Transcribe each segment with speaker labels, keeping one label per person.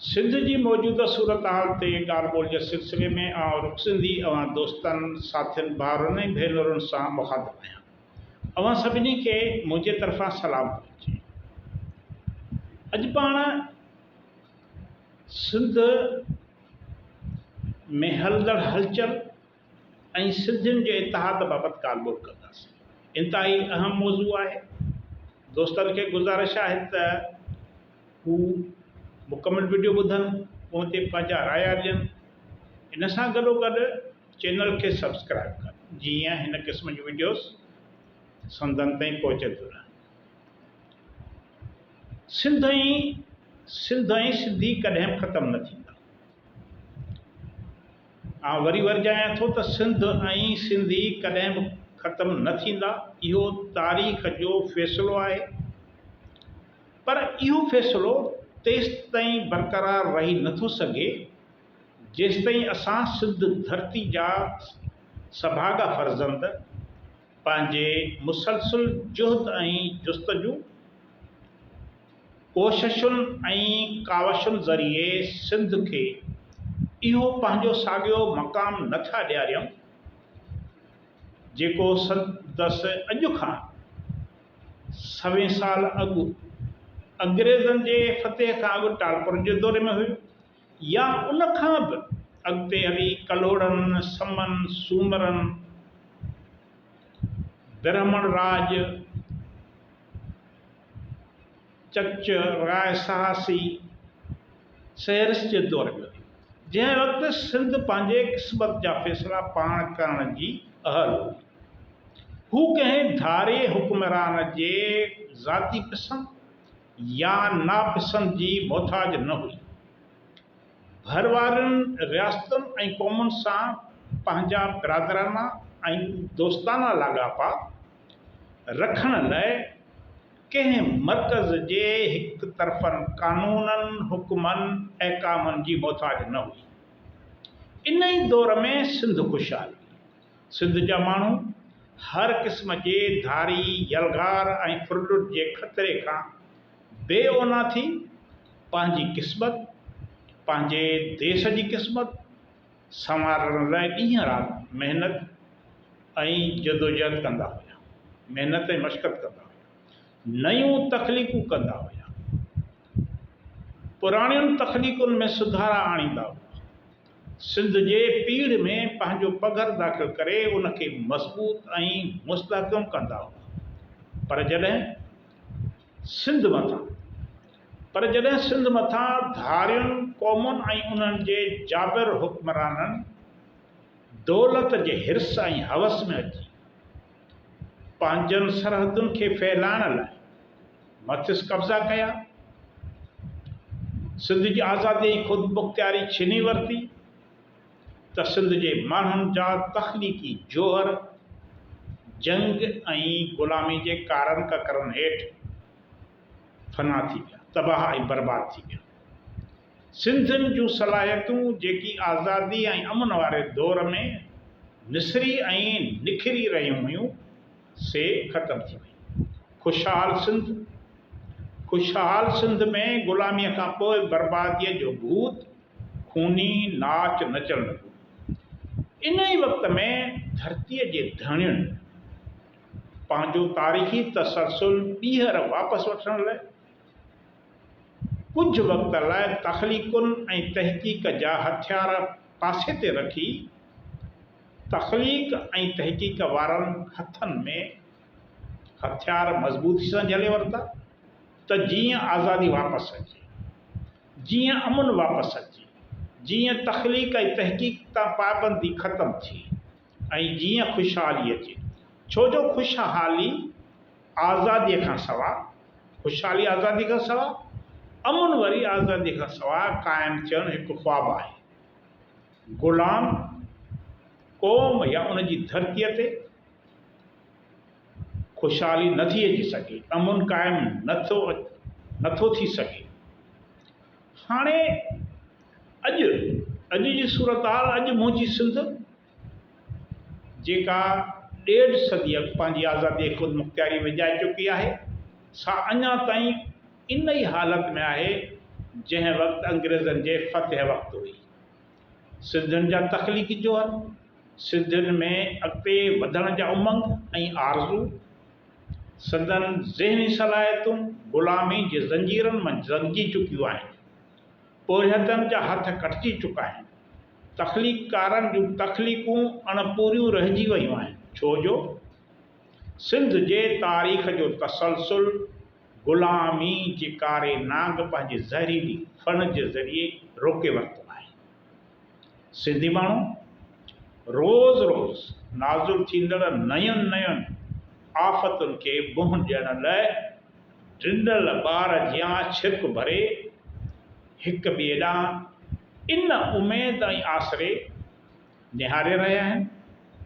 Speaker 1: سنڌ جي موجوده صورتحال تي ڳالهه ٻولهه جي سلسلي ۾ آئون رخ سنڌي اوهان دوستن، ساٿين، ڀائرن ۽ ڀينرن سان مخاطب آهيان. اوهان سڀني کي منهنجي طرفان سلام پهچي. اڄ پاڻ سنڌ ۾ هلندڙ هلچل، ۽ سنڌين جي اتحاد بابت ڳالهه ٻولهه ڪنداسين. انتهائي اهم موضوع آهي. دوستن کي گذارش آهي ته هو مڪمل وڊيو ٻڌن پوء تي پنهنجا رايا ڏين. ان سان گڏوگڏ چينل کي سبسڪرائيب ڪن جيئن هن قسم جون وڊيوز سنڌن تائين پهچنديون رهن. سنڌ ۽ سنڌ ۽ سنڌي ڪڏهن به ختم نه ٿيندا. آئون وري ورجايان ٿو ته سنڌ ۽ سنڌي ڪڏهن به ختم نه ٿيندا اهو تاريخ جو فيصلو آهي پر اهو فيصلو تيستائين برقرار رهي نه ٿو سگهي جيستائين اسان سنڌ ڌرتي جا سڀاڳا فرزند پنهنجي مسلسل جهد ۽ جستجو، ڪوششن ۽ ڪاوشن ذريعي سنڌ کي اهو پنهنجو ساڳيو مقام نه ٿا ڏياريون، جيڪو سندس اڄ کان سوين سال اڳ انگريزن جي فتح کان اڳ ٽالپر جي دور ۾ هيو. يا ان کان به اڳتي هلي ڪلهوڙن، سمن، سومرن، برهمڻ راڄ، چچ، راء سهاسي، سهرس جي دور ۾ هلي، جنهن وقت سنڌ پنهنجي قسمت جا فيصلا پاڻ ڪرڻ جي اهل هئي. هو ڪنهن ڌاري حڪمران جي ذاتي پسند يا ناپسند جي محتاج نه هئي. ڀر وارين رياستن ۽ قومن سان پنهنجا برادرانه ۽ دوستانه لاڳاپا رکڻ لاء ڪنهن مرڪز جي هڪ طرفن قانونن، حڪمن، احڪامن جي محتاج نه هئي. انهي دور ۾ سنڌ خوشحال هئي. سنڌ جا ماڻهو هر قسم جي ڌاري، يلغار ۽ ڦرلٽ جي خطري کان بي اونا ٿي پنهنجي قسمت، پنهنجي ديس جي قسمت سنوارڻ لاء ڏينهن رات محنت ۽ جدوجهد ڪندا هيا. محنت ۽ مشقت ڪندا هيا. نيون تخليقون ڪندا هيا. پراڻين تخليقن ۾ سڌارا آڻيندا هيا. سنڌ جي پيڙهه ۾ پنهنجو پگهر داخل ڪري ان کي مضبوط ۽ مستحڪم ڪندا هئا پر جڏهن سنڌ مٿان پر جڏهن سنڌ مٿان ڌارين قومن ۽ انهن جي جابر حڪمرانن دولت جي حرص ۽ حوس ۾ اچي پنهنجن سرحدن کي ڦهلائڻ لاء مٿس قبضا ڪيا، سنڌ جي آزادي ۽ خودمختياري ڇني ورتي ته سنڌ جي ماڻهن جا تخليقي جوهر جنگ ۽ غلامي جي ڪارن ڪڪرن هيٺ فنا ٿي ويا، تباهه ۽ برباد ٿي ويا. سنڌين جون صلاحيتون جيڪي آزادي ۽ امن واري دور ۾ نسري ۽ نکري رهيون هيون سي ختم ٿي ويون. خوشحال سنڌ، خوشحال سنڌ ۾ غلاميء کان پوء برباديء جو ڀوت خوني ناچ نچڻ لڳو. ان ئي وقت ۾ ڌرتيء جي ڌڻين پنهنجو تاريخي تسلسل ٻيهر واپس وٺڻ لاء، ڪجهه وقت لاء تخليقن ۽ تحقيق جا هٿيار پاسي تي رکي، تخليق ۽ تحقيق وارن هٿن ۾ هٿيار مضبوطي سان جهلي ورتا ته جيئن آزادي واپس اچي، جيئن امن واپس اچي، جيئن تخليق ۽ تحقيق تان پابندي ختم ٿئي. ۽ جيئن خوشحالي اچي. ڇو جو خوشحالي آزاديء کان سواء، خوشحالي آزاديء کان سواء، امن وري آزاديء کان سواء قائم ٿيڻ هڪ خواب آهي. غلام قوم يا ان جي ڌرتيء تي خوشحالي نه ٿي اچي سگهي، امن قائم نه ٿو نه ٿو ٿي سگهي. هاڻي اڄ اڄ جي صورتحال اڄ منهنجي سنڌ جيڪا ڏيڍ صدي اڳ پنهنجي آزادي ۽ خودمختياري وڄائي چڪي آهي سا اڃا تائين ان ئي حالت ۾ آهي جنهن وقت انگريزن جي فتح وقت هئي. سنڌين جا تخليقي جوهر، سنڌين ۾ اڳتي وڌڻ جا امنگ ۽ آرزو، سندن ذهني صلاحيتون غلامي جي زنجيرن منجھ زنگجي چڪيون آهن. پورهيتن جا هٿ ڪٽجي چڪا آهن. تخليقڪارن جون تخليقون اڻ پوريون رهجي ويون آهن. ڇو جو سنڌ جي تاريخ جو تسلسل غلامي جي ڪاري نانگ پنهنجي زهريلي ڦڻ جي ذريعي روڪي ورتو آهي. سنڌي ماڻهو روز روز نازل ٿيندڙ نين نين آفتن کي منهن ڏيڻ لاء ڊنل ٻار جيان ڇڪ ڀري هڪ ٻئي ڏانهن ان اميد ۽ آسري نهاري رهيا آهن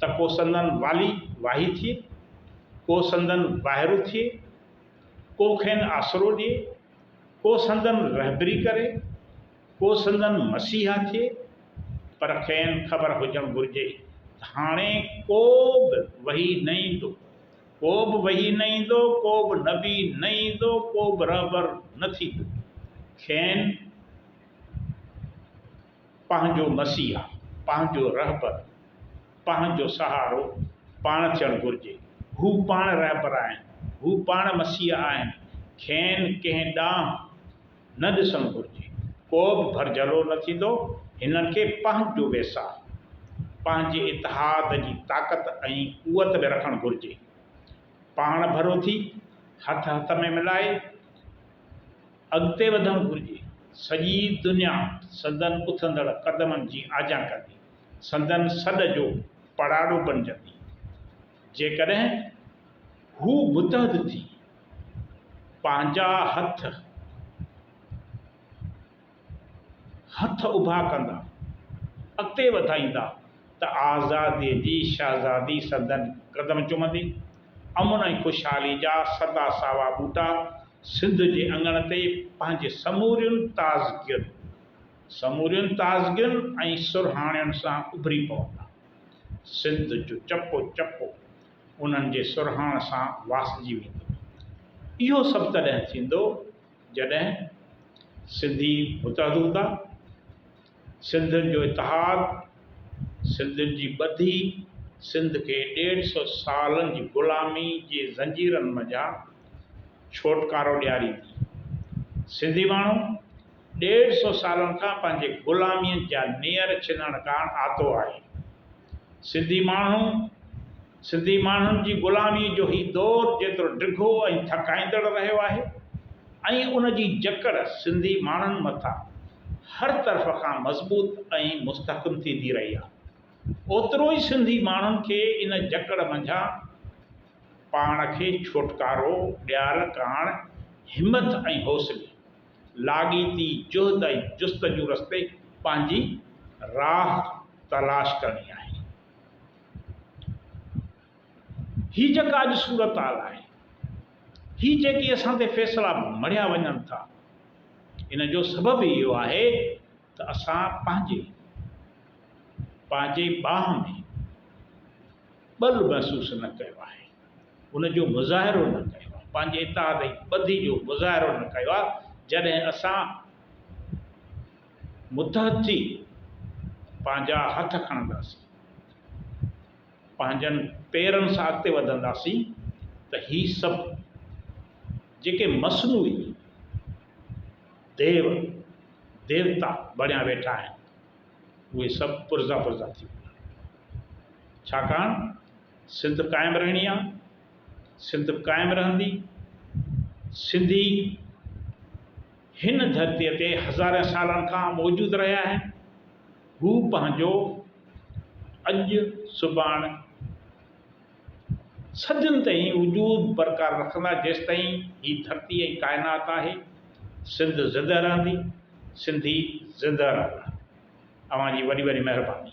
Speaker 1: ته ڪو سندن والي واهي ٿئي، ڪو سندن واهرو ٿئي، ڪو کين آسرو ڏئي، ڪو سندن رهبري ڪري. ڪو سندن مسيحا ٿئي، پر کين خبر هجڻ گهرجي ته هاڻي ڪو به وحي نه ايندو، ڪو به وحي نه ايندو، ڪو به نبي نه ايندو، ڪو به رهبر نه ٿيندو، کين پنهنجو مسيحا، پنهنجو رهبر، پنهنجو سهارو پاڻ ٿيڻ گهرجي، هو پاڻ رهبر آهن، هو پاڻ مسيحا آهن، کين ڪنهن ڏانهن نه ڏسڻ گهرجي. ڪو به ڀرجهلو نه ٿيندو، هنن کي پنهنجو ويساهه، پنهنجي اتحاد جي طاقت ۽ قوت ۾ رکڻ گهرجي. پاڻ ڀرو ٿي، هٿ هٿ ۾ ملائي اڳتي وڌڻ گهرجي. سڄي دنيا سندن اٿندڙ قدمن جي آجيان ڪندي، سندن سڏ جو پڙاڏو بنجندي. جيڪڏهن هو متحد ٿي. پنهنجا هٿ هٿ اڀا ڪندا، اڳتي وڌائيندا ته آزاديء جي شهزادي سندن قدم چمندي. امن ۽ خوشحالي جا سدا ساوا ٻوٽا سنڌ جي اڱڻ تي پنهنجي سمورين تازگين سمورين تازگين ۽ سرهاڻين سان اڀري پوندا. سنڌ جو چپو چپو انهن جي سرهاڻ سان واسجي ويندو. اهو سڀ تڏهن ٿيندو جڏهن سنڌي متحد هوندا، سنڌين جو اتحاد، سنڌين جي ٻڌي سنڌ کي ڏيڍ سئو سالن جي غلامي جي زنجيرن منجهان ڇوٽڪارو ڏياريندي. سنڌي ماڻهو! ڏيڍ سو سالن کان پنهنجي غلاميء جا نير ڇنڻ ڪاڻ آتو آهي. سنڌي ماڻهو سنڌي ماڻهن جي غلاميء جو هي دور جيترو ڊگهو ۽ ٿڪائيندڙ رهيو آهي ۽ ان جي جڪڙ سنڌي ماڻهن مٿان هر طرف کان مضبوط ۽ مستحڪم ٿيندي رهي آهي اوترو ئي سنڌي ماڻهن کي ان جڪڙ منجهان پاڻ کي ڇوٽڪارو ڏيارڻ ڪاڻ همٿ ۽ حوصلي لاڳيتي جهد ۽ جستجو رستي پنهنجي راهه تلاش ڪرڻي آهي. هي جيڪا اڄ صورتحال آهي، هي جيڪي اسان تي فيصلا مڙهيا وڃن ٿا، ان جو سبب ئي اهو آهي ته اسان پنهنجي پنهنجي ٻانهن ۾ ٻل محسوس نه ڪيو آهي. ان جو مظاهرو نه ڪيو آهي، پنهنجي اتحاد ۽ ٻڌي جو مظاهرو نه ڪيو آهي، جڏهن اسان متحد ٿي پنهنجا هٿ کڻنداسين، پنهنجن پيرن سان اڳتي وڌنداسين ته هي سڀ جيڪي مصنوعي ديو ديوتا بڻيا ويٺا آهن، اهي سڀ پرزا پرزا ٿي ويندا، ڇاڪاڻ سنڌ قائم رهڻي آ سنڌ قائم رهندي سنڌي هن ڌرتي تي هزارين سالن کان موجود رهيا آهن هو پنهنجو اڄ سڀاڻ صدين تائين وجود برقرار رکندا جيستائين هي ڌرتي ۽ ڪائنات آهي سنڌ زنده رهندي سنڌي زنده رهندا اوهان جي وڏي وڏي مهرباني.